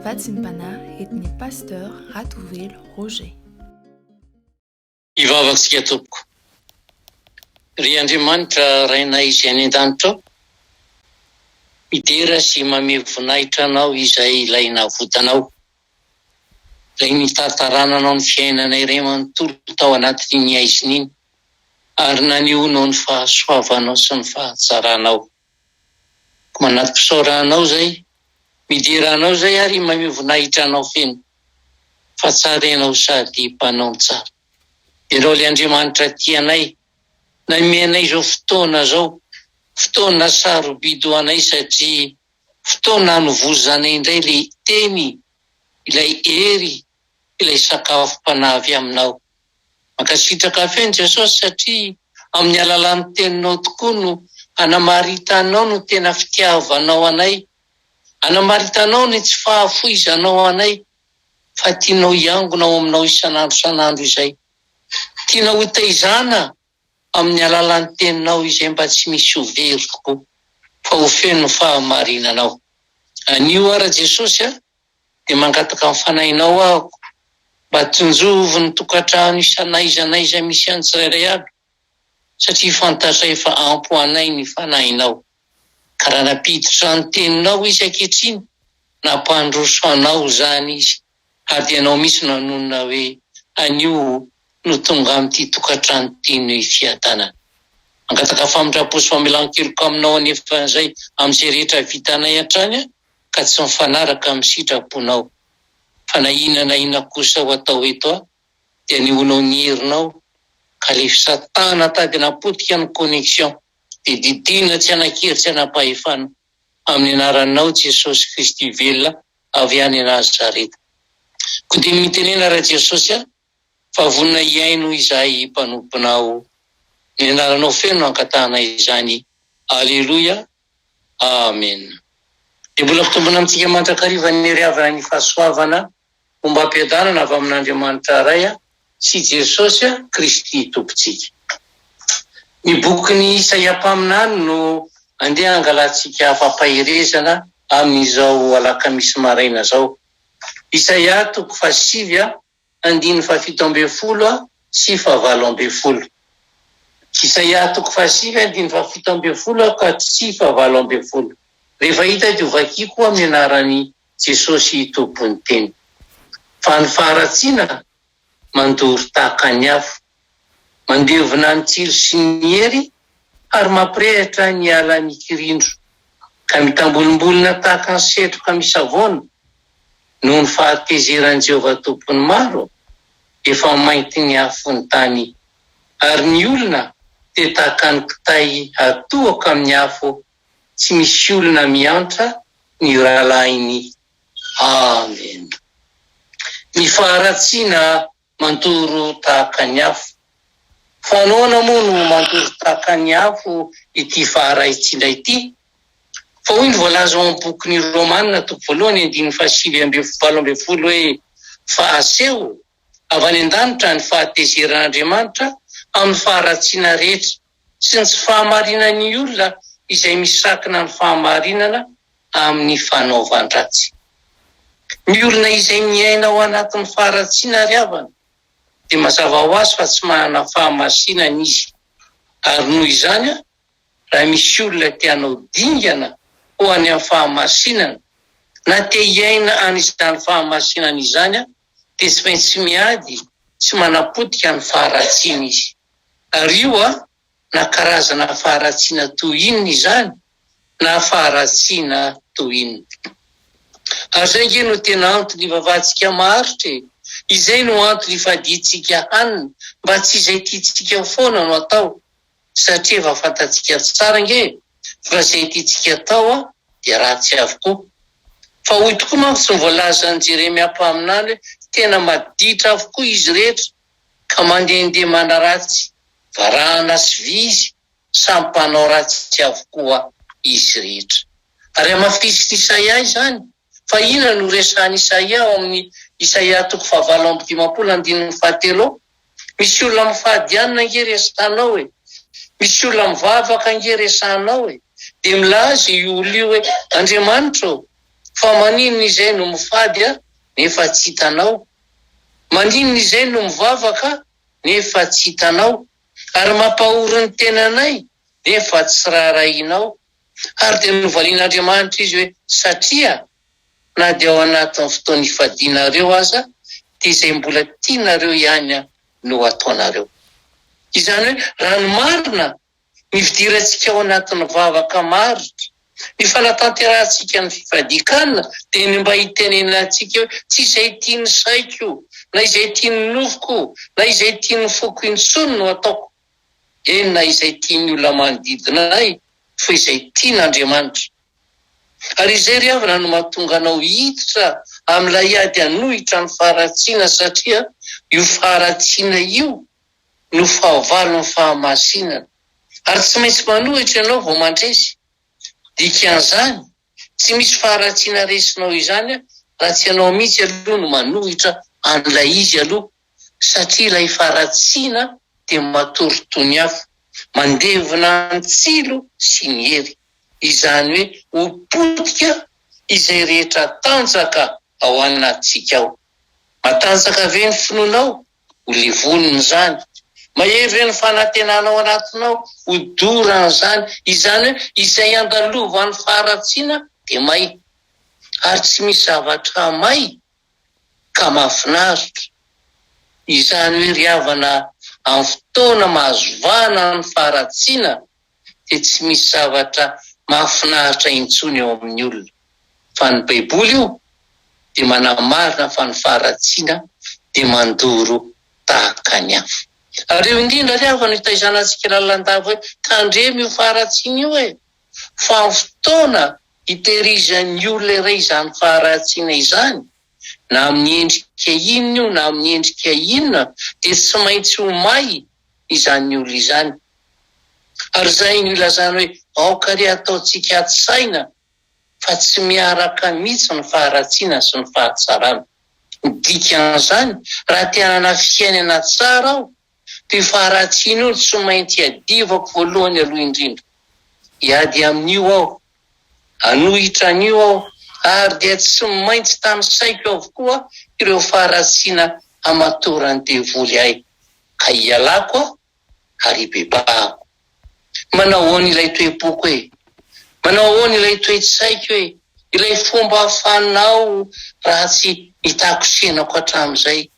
Vatsim-panahy eto ny Pasteur Ratovelo Roger. Hivavantsika tompoko. Ry Andriamanitra Rainay izay any an-danitra ao, midera sy mamehy voninahitra Anao izay ilay navotanao, ilay nitatarananao ny fiainanay iray manontolo tao anatin'iny haizina iny ary nanehonao ny fahasoavanao sy ny fahatsaranao. Manati-pisaora anao zay. Midera anao zay ary i Maimai voninahitra anao feno fa tsara ianao sady mpanao ny tsara. Ianao le Andriamanitra tia anay namehy anay izao fotoana zao, fotoana sarobidy ho anay satria fotoana hanovozanay indray le Teny, ilay Hery, ilay sakafom-panahy avy aminao. Mankasitraka feno Jesosy satria amin'ny alalan'ny teninao tokoa no hanamaritanao ny tena fitiavanao anay, hanamaritanao ny tsy fahafoizanao anay fa tianao hiangona ao aminao isan'andro isan'andro izay. Tiana hotaizana amin'ny alalan'ny teninao izay mba tsy misy ho very tokoa fa ho feno ny fahamarinanao. Anio ara Jesosy a! dia mangataka ny fanahinao ahoko mba tsinjovy ny tokantrano isa n'aiza n'aiza misy an'ny tsirairay aby satria fantatray efa ampy ho anay ny fanahinao ka raha nampiditra ny teninao izy ankehitriny nampandroso anao izany izy ary dia ianao mihitsy no hanonona hoe anio no tonga amin'ity tokantrano ity ny fiadanana mangataka famindram-po sy famelan-keloka aminao anefa izay amin'izay rehetra vitanay hatrany ka tsy mifanaraka amin'ny sitraponao. Fa na inona na inona kosa ho atao eto aho dia ny honao ny herinao ka le fisatana tady napotika ny connexion dia didiana tsy hanan-kery tsy hanam-pahefana amin'ny anaranao Jesosy Kristy velona avy any Nazareta. Koa dia mitenena Ra Jesosy a! Fa vonona hihaino izahay mpanomponao. Ny anaranao feno no ankatahana izany. Aleloia. Amena. Dia mbola mitombina amintsika mandrakariva ny hery avy any fahasoavana ombam-piadanana avy amin'Andriamanitra Ray sy Jesosy Kristy Tompontsika. Ny bokin'i Isaia mpaminany no andeha hangalantsika fampaherezana amin'izao alakamisy maraina izao. Isaia toko fahasivy Andininy fahafito ambin'ny folo sy fahavalo ambin'ny folo. Isaia toko fahasivy andininy fahafito ambin'ny folo ka sy fahavalo ambin'ny folo. Rehefa hita dia hovakiko amin'ny anaran'i Jesosy Tompon'ny teny. Fa ny faharatsiana mandoro tahaka ny afo. Mandevona ny tsilo sy ny hery ary mampirehitra ny ala mikirindro ka mitambolimbolina tahaka ny setroka misavoana, noho ny fahatezeran'i Jehovah Tompon'ny maro, efa mainty ny afo ny tany, ary ny olona dia tahaka ny kitay atohako amin'ny afo, tsy misy olona miantra ny rahalahiny. Amena. Ny faharatsiana Mantoro tahaka ny afo. Fa nahoana moa no mantoro tahaka ny afo ity faha-raisitra indray ity? Fa hoy ny voalaza ao amin'ny bokin'ny Romana toko voalohany andininy fahasivy amby valo ambin'ny folo hoe, Fa aseho avy any an-danitra ny fahatezeran'Andriamanitra amin'ny faharatsiana rehetra. sy ny tsy fahamarinan'ny olona izay misakina ny fahamarinana amin'ny fanaovan-dratsy. Ny olona izay miaina ao anatin'ny faharatsiana ry havana dia mazava ho azy fa tsy manana fahamasinana izy, ary noho izany raha misy olona te hanao dingana ho any amin'ny fahamasinana na te hiaina an'izany fahamasinana izany dia tsy maintsy miady sy manapotika ny faharatsiana izy. Ary io an, na karazana faharatsiana toy inona izany, na faharatsiana toy inona. Ary izay ange no tena anton'ny ivavantsika maharitra e! Izay no antony ifadiantsika hanina, mba tsy izay tiantsika foana no atao, satria efa fantatsika tsara ange fa zay tiantsika tao dia ratsy avokoa. Fa hoy tokoa manko tsy ny voalazan'i Jeremia mpaminany hoe tena maditra avokoa izy rehetra ka mandehandeha manaratsy varahana sy vy izy, samy mpanao ratsy avokoa izy rehetra. Ary hamafisin'i Isaia izany. Fa inona no resahan'i Isaia ao amin'ny Isaia toko fahavalo amby dimampolo andininy fahatelo ao? Misy olona mifadianina ange resahanao e! Misy olona mivavaka ange resahanao e! Dia milaza io olona io hoe, Andriamanitra ô, fa maninona izay no mifady aho nefa tsy hitanao? Maninona izay no mivavaka aho nefa tsy hitanao? Ary mampahory ny tenanay nefa tsy raharahianao? ary dia novalian'Andriamanitra izy hoe, Satria na dia ao anatin'ny fotoana ifadianareo aza, dia izay mbola tianareo ihany no ataonareo. Izany hoe, raha ny marina, ny fidirantsika ao anatin'ny vavaka maharitra, ny fanatanterahantsika ny fifadian-kanina, dia ny mba hitenenana antsika hoe, Tsy izay tian'ny saiko, na izay tian'ny nofoko, na izay tian'ny foko intsony no ataoko, Eny na izay tian'ny olona manodidina ahy fa izay tian'Andriamanitra. Ary izay ry havana no mahatonga anao hiditra amin'ilay ady hanohitra ny faharatsiana satria io faharatsiana io no fahavalon'ny fahamasinana. Ary tsy maintsy manohitra ianao vao mandresy dikan'izany. Tsy misy faharatsiana resinao izany raha tsy ianao mihitsy aloha no manohitra an'ilay izy aloha satria ilay faharatsiana dia matory toniafo, mandevona ny tsilo sy ny hery. Izany hoe ho potika izay rehetra tanjaka ao anatintsika ao. Matanjaka ve ny finoanao ho levonina izany. Mahery ve ny fanantenana ao anatinao ho dorana izany? Izany hoe izay andalovan'ny faharatsiana dia may ary tsy misy zavatra may ka mahafinaritra. Izany hoe ry havana amin'ny fotoana mahazo vahana ny faharatsiana dia tsy misy zavatra mahafinaritra intsony eo amin'ny olona, fa ny baiboly io dia manamarina fa ny faharatsiana dia mandoro tahaka ny afo. Ary eo indrindra ary havana hitaizana antsika lalandava hoe tandremo io faharatsiana io e! fa amin'ny fotoana hitehirizan'ny olona iray izany faharatsiana izany, na amin'ny endrika inona io na amin'ny endrika inona, dia tsy maintsy ho may, izany olona izany. Ary izay no ilazana hoe aoka re ataontsika atsy saina fa tsy miaraka mihitsy ny faharatsiana sy ny fahatsarana. Ny dikan'izany, raha te hanana fiainana tsara aho, dia io faharatsiana io no tsy maintsy iadivako voalohany aloha indrindra. Hiady amin'io aho Hanohitra an'io aho, ary dia tsy maintsy tanisaiko avokoa ireo faharatsiana hamatoran'ny devoly ahy, ka ialako aho ary ibebahako. Manao ahoana ilay toe-poko e? Manao ahoana ilay toe-tsaiko e? Ilay fomba fanao ratsy nitakosenako hatramin'izay?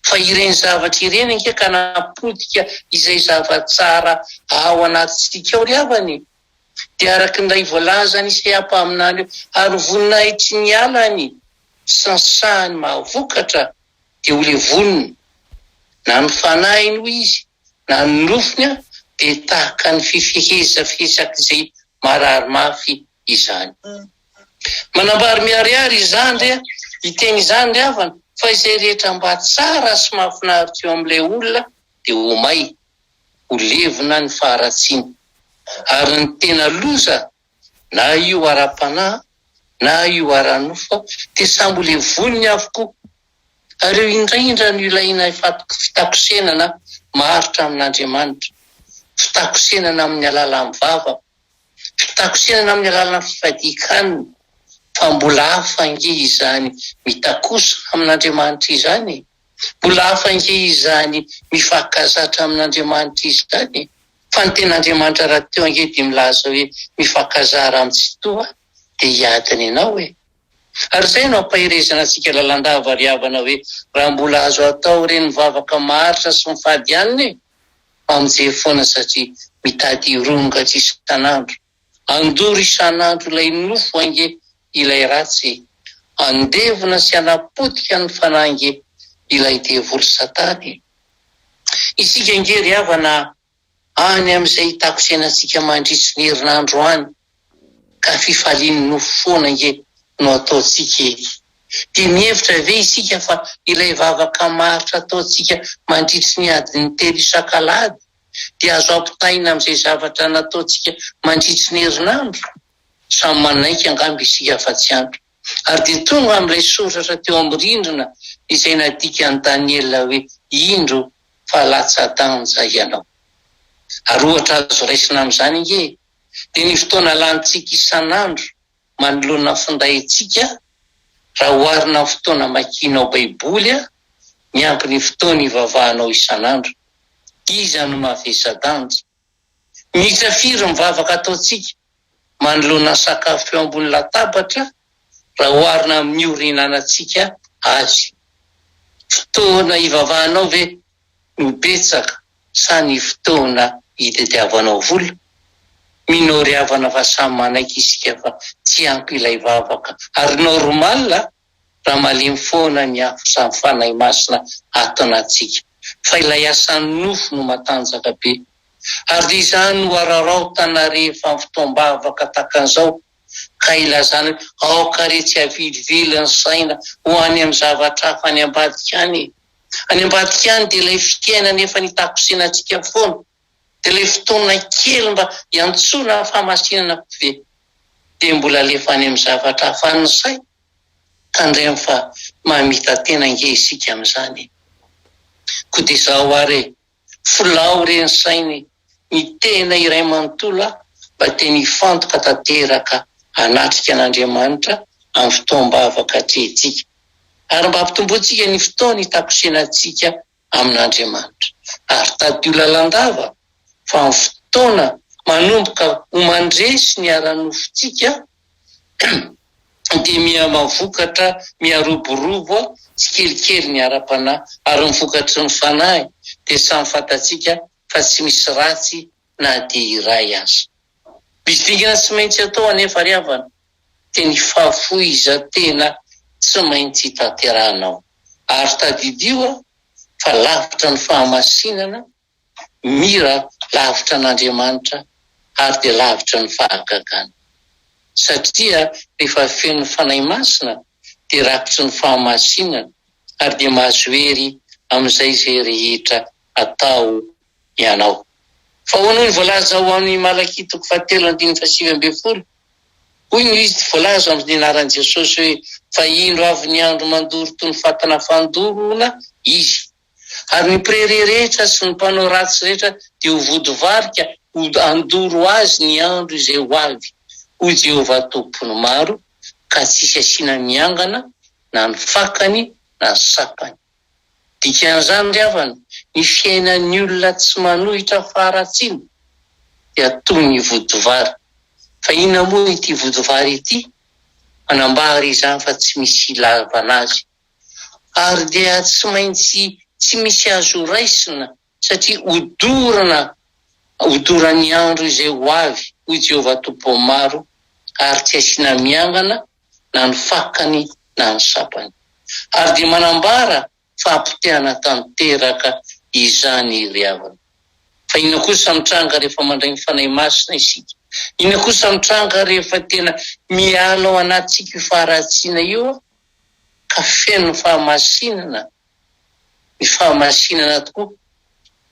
fa ireny zavatra ireny ange ka napotika izay zava-tsara ao anatintsika ao ry havana e! dia araka ilay voalazan'i Isaia mpaminany hoe, ary ho voninahitry ny ala ny sansahany mahavokatra, dia ho levonina, na ny fanahiny hoy izy, na ny nofony dia tahaka ny fifehezafehezak'izay marary mafy izany. Manambary miharihary izany re a! Hiteny izany ny havana fa izay rehetra mba tsara sy mahafinaritra eo amin'ilay olona dia ho may, ho levona ny faharatsiany. Ary ny tena loza, na io ara-panahy na io ara-nofo, dia samy ho levoniny avokoa. Ary eo indraindra no ilaina fitakosenana maharitra amin'Andriamanitra, fitakosenana amin'ny alalan'ny vava. Fitakosenana amin'ny alalan'ny fifadian-kanina, fa mbola hafa ange izany mitakosa amin'Andriamanitra izany e! Mbola hafa ange izany mifankazatra amin'Andriamanitra izany e! Fa ny tena Andriamanitra rahateo ange dia milaza hoe mifankazara amin'ny Tsitoha dia hiady ny anao e! Ary izay no ampaherezana antsika lalandava ry havana hoe raha mbola azo atao ireny mivavaka maharitra sy mifady hanina e! Mpamonjy foana sady mitady hironga isan'andro. Andoro isan'andro ilay nofo ange ilay ratsy e! Andevona sy anapotika ny fanahy ange ilay devoly satana e! Isika ange ry havana any amin'izay hitakosenantsika mandritry ny herinandro any. Ka fifalian'ny nofo foana ange no ataontsika e! Dia mihevitra ve isika fa ilay vavaka maharitra ataontsika mandritry ny adiny telo isak'alahady dia azo ampitahaina amin'izay zavatra nataontsika mandritry ny herinandro? Samy manaiky angamba isika fa tsy ampy. Ary dia tonga amin'ilay soratra teo amin'ny rindrina izay nadikan'i Daniela hoe, Indro fa latsa-danja ianao. Ary ohatra azo raisina amin'izany ange dia ny fotoana lanintsika isan'andro manoloana ny findaintsika raha oharina amin'ny fotoana amakianao Baiboly miampy ny fotoana ivavahanao isan'andro. Iza no mavesa-danja? Miisa firy ny vavaka ataontsika manoloana ny sakafo eo ambony latabatra raha oharina amin'ny ora ihinanantsika azy? Fotoana ivavahanao ve? no betsaka sa ny fotoana hitadiavanao vola? Mino ry havana fa samy manaiky isika fa tsy ampy ilay vavaka ary normal raha malemy foana ny afo sy ny Fanahy Masina ato anatintsika fa ilay asan'ny nofo no matanjaka be ary dia izany no araraotana rehefa amin'ny fotoam-bavaka takan'izao ka ilazana hoe aoka re tsy avilivily ny saina ho any amin'ny zavatra hafa any ambadika any e! Any ambadika any dia ilay fiainana efa nitakosena antsika foana, dia ilay fotoana kely mba hiantsoana fahamasinana ve dia mbola alefa any amin'ny zavatra hafa any ny saina? Tandremo fa mahamita-tena ange isika amin'izany e! Koa dia izao ary e! Filao re ny saina e! Ny tena iray manontolo aho mba te ny hifantoka tanteraka hanatrika an'Andriamanitra amin'ny fotoam-bavaka atrehintsika ary mba hampitombointsika ny fotoana hitakosenantsika amin'Andriamanitra ary tadio lalandava fa ny fotoana manomboka ho mandresy ny ara-nofontsika dia miha-mavokatra, miha-roborobo tsikelikely ny ara-panahy, ary ny vokatry ny fanahy dia samy fantatsika fa tsy misy ratsy na dia iray aza. Misy dingana tsy maintsy atao anefa ry havana, dia ny fahafohizan-tena tsy maintsy tanterahina ao. Ary tadidio fa lavitra ny fahamasinana, Mira lavitra an'Andriamanitra ary dia lavitra ny fahagagana. Satria rehefa feno Fanahy Masina dia rakotry ny fahamasinana ary dia mahazo hery amin'izay izay rehetra atao ianao. Fa hoy ny voalaza ao amin'ny Malakia toko fahatelo andininy fahasivy ambin'ny folo, hoy no izy tsy voalaza amin'ny anaran'i Jesosy hoe, fa indro avy ny andro mandoro toy ny fatana fandoroana izy. ary ny mpirery rehetra sy ny mpanao ratsy rehetra dia ho vodivarika ho handoro azy ny andro izay ho avy, hoy Jehovah Tompo ny maro, ka tsy hisy asiana miangana na ny fakany na ny sapany. Dikan'izany ry havana, ny fiainan'ny olona tsy manohitra faharatsiana dia toy ny vodivary. Fa inona moa ity vodivary ity? Manambara izany fa tsy misy ilavana azy. ary dia tsy maintsy tsy misy azo raisina, satria hodorana hodoran'ny andro izay ho avy, hoy Jehovah Tompom-pahomaro, ary tsy asiana miangana na ny fakany na ny sapany. Ary dia manambara fa hapotehana tanteraka izany i Riavana. Fa inona kosa mitranga rehefa mandray ny Fanahy Masina isika? Inona kosa mitranga rehefa tena miala ao anatintsika io faharatsiana io? ka feno fahamasinana ny fahamasinana tokoa.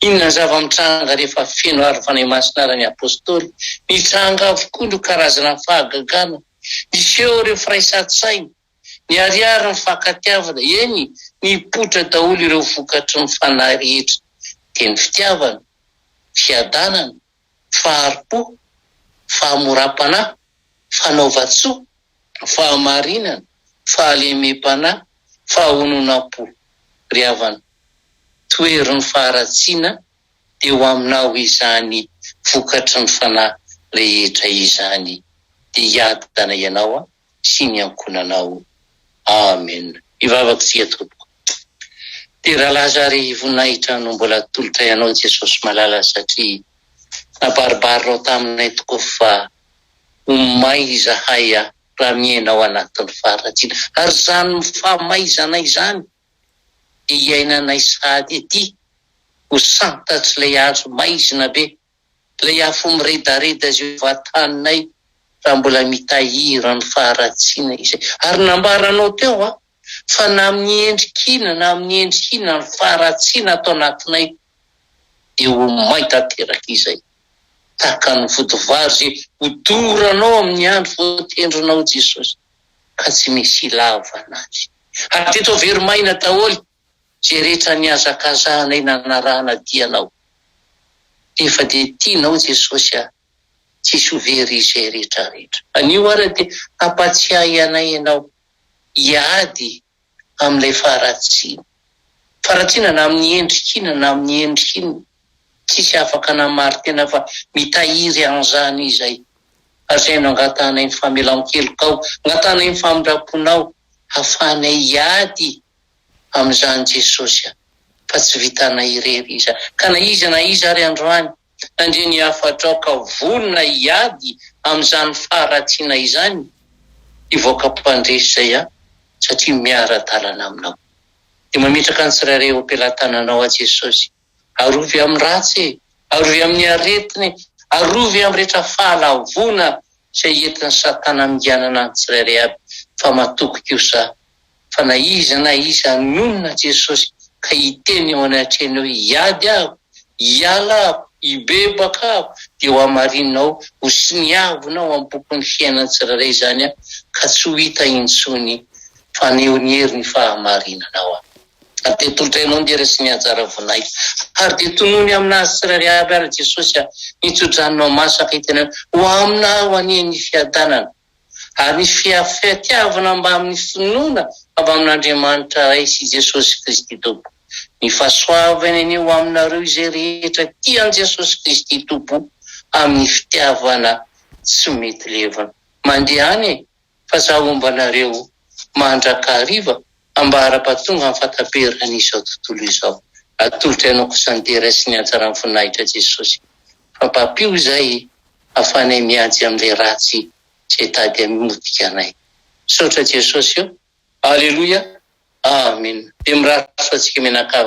Inona ny zava-mitranga rehefa feno aro Fanahy Masina ary ny Apostoly? Nitranga avokoa ireo karazana fahagagana. Niseho ireo firaisan-tsaina, niharihary ny fankatiavana, eny, nipoitra daholo ireo vokatry ny Fanahy rehetra, dia ny fitiavana, fiadanana, fahari-po, fahamoram-panahy, fanaovan-tsoa, fahamarinana, fahalemem-panahy, fahononam-po. Ry havana, tohery ny faharatsiana teo aminao izany vokatry ny fanahy rehetra izany, dia hiadana ianao an! sy ny ankohonanao. Amen. Hivavaka isika tompoko. Dia rahalahy zary voninahitra no mbola tolotray anao Jesosy malala satria nabaribariranao taminay tokoa fa ho may izahay raha miaina ao anatin'ny faharatsiana ary izany famaizanay izany dia iainanay sahady ety ho santatry ilay hazo maizina be Ilay afo miredareda izay vataninay raha mbola mitahiry ny faharatsiana izay. Ary nambaranao teo an, fa na amin'ny endrika inona na amin'ny endrika inona ny faharatsiana ato anatinay dia ho may tanteraka izay. Tahaka ny vodivary izay hodoranao amin'ny andro voatendrinao Jesosy, ka tsy misy ilavana azy. Ary dia toa very maina daholo Jeretsany hazakazahanay nanarahana dia anao Efa dia tianao Jesosy a Tsisy ho very izay retraretra Anio ary dia hampatsiahy anay ianao Hiady amin'ilay faharatsiana Faharatsiana na amin'ny endrika inona na amin'ny endrika inona Tsisy afaka namarin-tena fa mitahiry an'izany izay Hajainao Angatahanay ny famelan-kelokao Angatahanay ny famindram-ponao Hahafahanay hiady amin'izany Jesosy a! fa tsy vitanay irery iza ka na iza na iza ary androany nandre ny hafatrao ka vonona hiady amin'izany faharatsiana izany hivoaka mpandresy izay a! satria miara-dalana aminao dia mametraka ny tsirairay eo am-pelatananao aho Jesosy Arovy amin'ny ratsy e! Arovy amin'ny aretiny e! Arovy amin'ny rehetra fahalavoana izay entin'i Satana haminganana ny tsirairay avy fa matoky kosa fa na iza na iza hanonona Jesosy ka hiteny eo anatrehanao hoe hiady aho, hiala aho, hibebaka aho dia ho hamarininao ho soniavina ao amin'ny bokin'ny fiainan'ny tsirairay izany ka tsy ho hita intsony fa ny heriny fahamarinana ao aminy. ary dia tolotrainao ny hery sy ny anjara voninahitra, ary dia tonony amina azy tsirairay avy ary Jesosy a, ny tso-dranonao masaka itenenanao ho amina aho anie ny fiadanana ary ny fiafitiavana mbamin'ny finoana mbamin'Andriamanitra Ray sy Jesosy Kristy Tompo, ny fahasoavany anie ho aminareo izay rehetra tia an'i Jesosy Kristy Tompo amin'ny fitiavana tsy mety levona. Mandeha any e! fa za homba anareo mandraka hariva ambara ba tonga am fataperan izao tontolo izao atolotry anao kosa ny dera sy ny hatsaran voninahitra jesosy fa mpapio izay afanay miajy am le ratsy zay tady amotika anay misaotra jesosy ô aleloia amen de mirary soa atsika mianakavy.